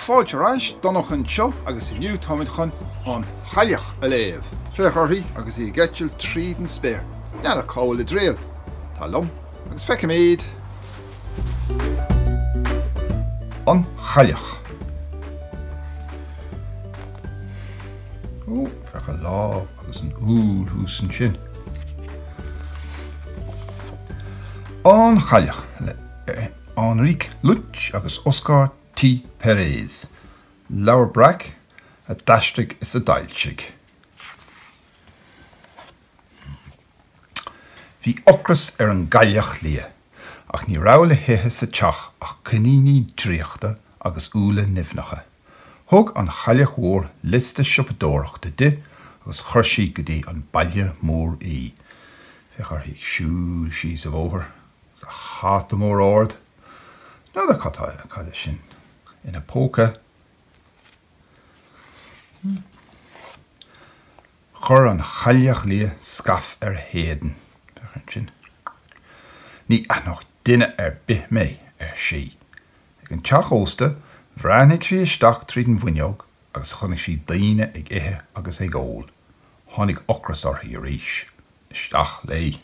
Fáilte ar ais, Donnchadh anseo agus inniu táimid chun an Chailleach a léamh. Féach uirthi agus í ag eitilt tríd an spéir. N'fheadar cá bhfuil a triall. Tar liom agus feicimid! An Chailleach. Ó, féach a lámh agus an úll thuas ansin. An Chailleach le Enrique Lluch agus Óscar T. Pérez, Leabhar Breac a d'aistrigh is a d'fhoilsigh. Bhí ocras ar an gCailleach Liath, ach ní raibh le hithe sa teach ach coiníní draíochta agus úlla nimhneacha. Thug an Chailleach Mhór liosta siopadóireachta di agus chuir sí go dtí an baile mór í. Féach uirthi ag siúl síos an bóthar agus a hata mór ard. N'fheadar cad atá, cad é sin ina póca. Chuir an Chailleach Liath scaif ar a héadan. Féach ansin. Ní aithneodh duine ar bith mé, ar sí. Ag an teach ósta, bhreathnaigh sí isteach tríd an bhfuinneog agus chonaic sí daoine ag ithe agus ag ól. Tháinig ocras uirthi arís. Isteach léi.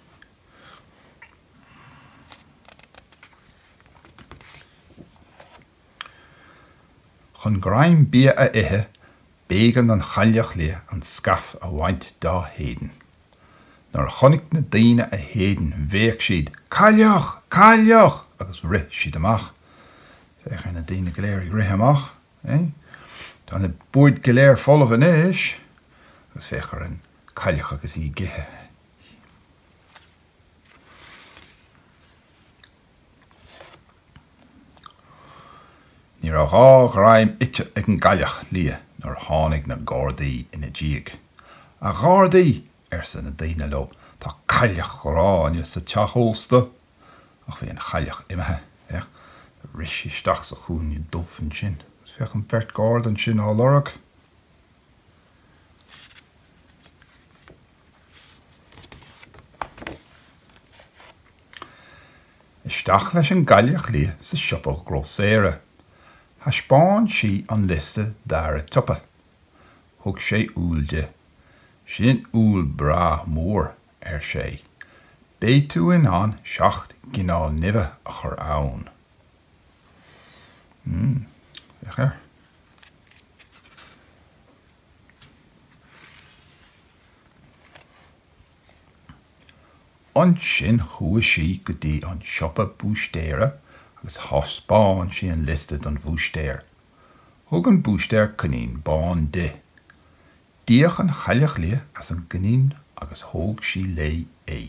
Chun greim bia a ithe, b'éigean don Chailleach Liath an scaif a bhaint dá héadan. Nuair a chonaic na daoine a héadan bhéic siad Cailleach! Cailleach! agus rith siad amach. Féach ar na daoine go léir ag rith amach. Tá na boird go léir folamh anois agus féach ar an gCailleach agus í ag ithe. Ní raibh dhá ghreim ite ag an gcailleach liath nuair a tháinig na gardaí ina diaidh. A ghardaí! arsa na daoine leo, tá cailleach ghránna sa teach ósta! Ach bhí an chailleach imithe, féach, do rith sí isteach sa chúinne dubh ansin agus féach an bheirt gharda ansin á lorg. Isteach leis an gCailleach Liath sa siopa grósaera. Thaispeáin sí an liosta d'fhear an tsiopa. Thug sé úll di. Sin úll breá mór, ar sé. Beidh tú in ann seacht gcineál nimhe a chur ann. Mmm, féach air. Ansin chuaigh sí go dtí an siopa búistéara agus thaispeáin sí an liosta don bhúistéir. Thug an búistéir coinín bán di. D'fhéach an Chailleach Liath ar an gcoinín agus thóg sí léi é.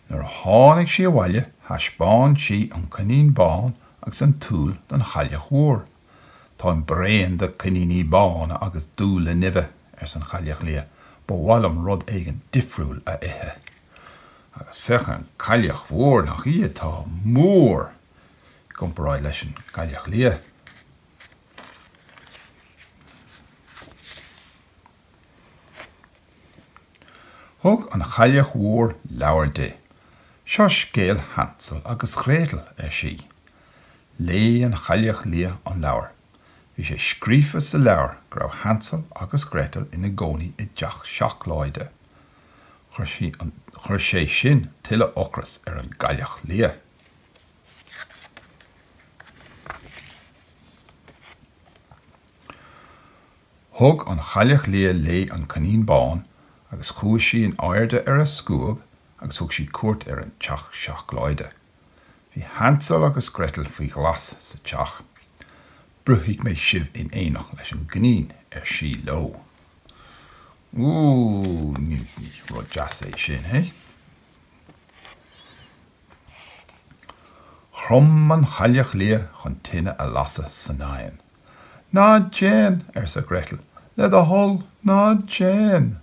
Nuair a tháinig sí abhaile thaispeáin sí an Coinín Bán agus an t-úll don Chailleach Mhór. Táim bréan de coiníní bána agus d'úlla nimhe, arsa an Chailleach Liath, ba mhaith liom rud éigin difriúil a ithe. Agus féach an Chailleach Mhór nach í atá mór i gcomparáid leis an gCailleach Liath. Thug an Chailleach Mhór leabhar di. Seo scéal Hansel agus Gretel, ar sí. Léigh an Chailleach Liath an leabhar. Bhí sé scríofa sa leabhar go raibh Hansel agus Gretel ina gcónaí i dteach seacláide. Chuir sé sin tuilleadh ocrais ar an gCailleach Liath. Thug an Chailleach Liath léi an coinín bán agus chuaigh sí in airde ar a scuab agus thug sí cuairt ar an teach seacláide. Bhí Hansel agus Gretel faoi ghlas sa teach. Bruithfidh mé sibh in éineacht leis an gcoinín, ar sí leo. Úúú, ní rud deas é sin, hé? Chrom an Chailleach Liath chun tine a lasadh san oigheann. Ná déan! arsa Gretel. Le do thoil, ná déan!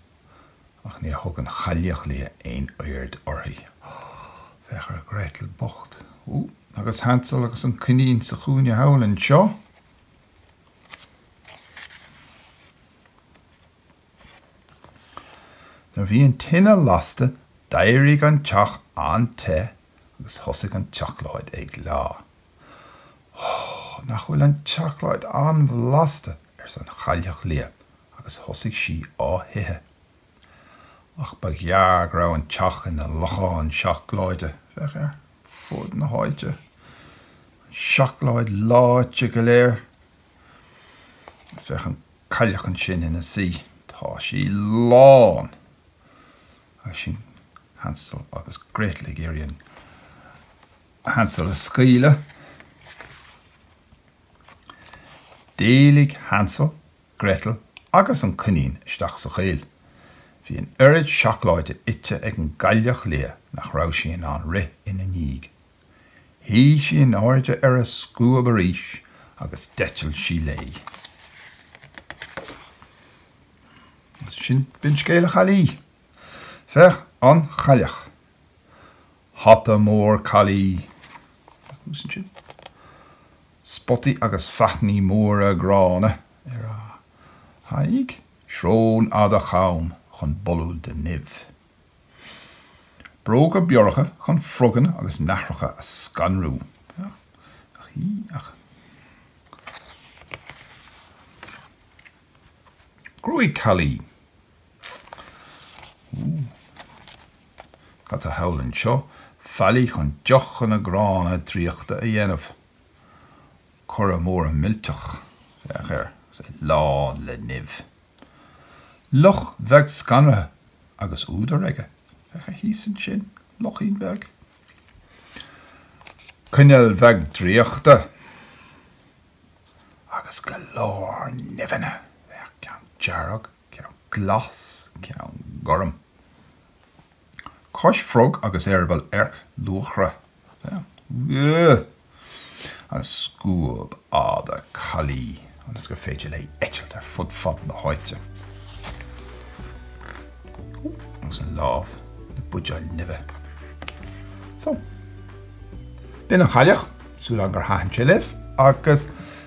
Ach níor thug an Chailleach Liath aon aird uirthi. Féach ar Gretel bocht. Ó, agus Hansel agus an coinín sa chúinne thall anseo! Nuair bhí an tine lasta d'éirigh an teach an-te agus thosaigh an tseacláid ag leá. Ó, nach bhfuil an tseacláid an-bhlasta, arsa an Chailleach Liath agus thosaigh sí á hithe. Ach ba ghearr go raibh an teach ina lochán seacláide, féach ar fud na háite an seacláid leáite go léir. Féach an cailleach ansin ina suí. Tá sí lán. Agus sin Hansel agus Gretel ag iarraidh Hansel a scaoileadh. D'éalaigh Hansel, Gretel agus an coinín isteach sa choill. Bhí an oiread seacláide ite ag an gcailleach liath nach raibh sí in ann rith ina ndiaidh. Shuigh sí in airde ar a scuab arís agus d'eitil sí léi. Sin b'in scéal na caillí. Féach An Chailleach. Hata mór caillí. Thuas ansin. Spotaí agus faithní móra gránna ar a haghaidh. Srón fhada cham chun bolú de nimh. Bróga bioracha chun froganna agus nathracha a scanrú. Gruaig caillí. Cad tá thall anseo? Faillí chun deochanna gránna draíochta a dhéanamh. Coire mór millteach. Féach air, agus é lán le nimh. Luch bheag scanraithe agus údar aige. Féach air thíos ansin, luichín beag. Coinneal bheag draíochta agus go leor nimheanna. Féach, ceann dearg, ceann glas, ceann gorm. Cos frog agus eireaball earc luachra an scuab fhada caillí ionas gur féidir léi eitilt ar fud fad na háite, agus an lámh le buidéal nimhe. So, b'in an chailleach, súil agam gur thaitin sé libh, agus.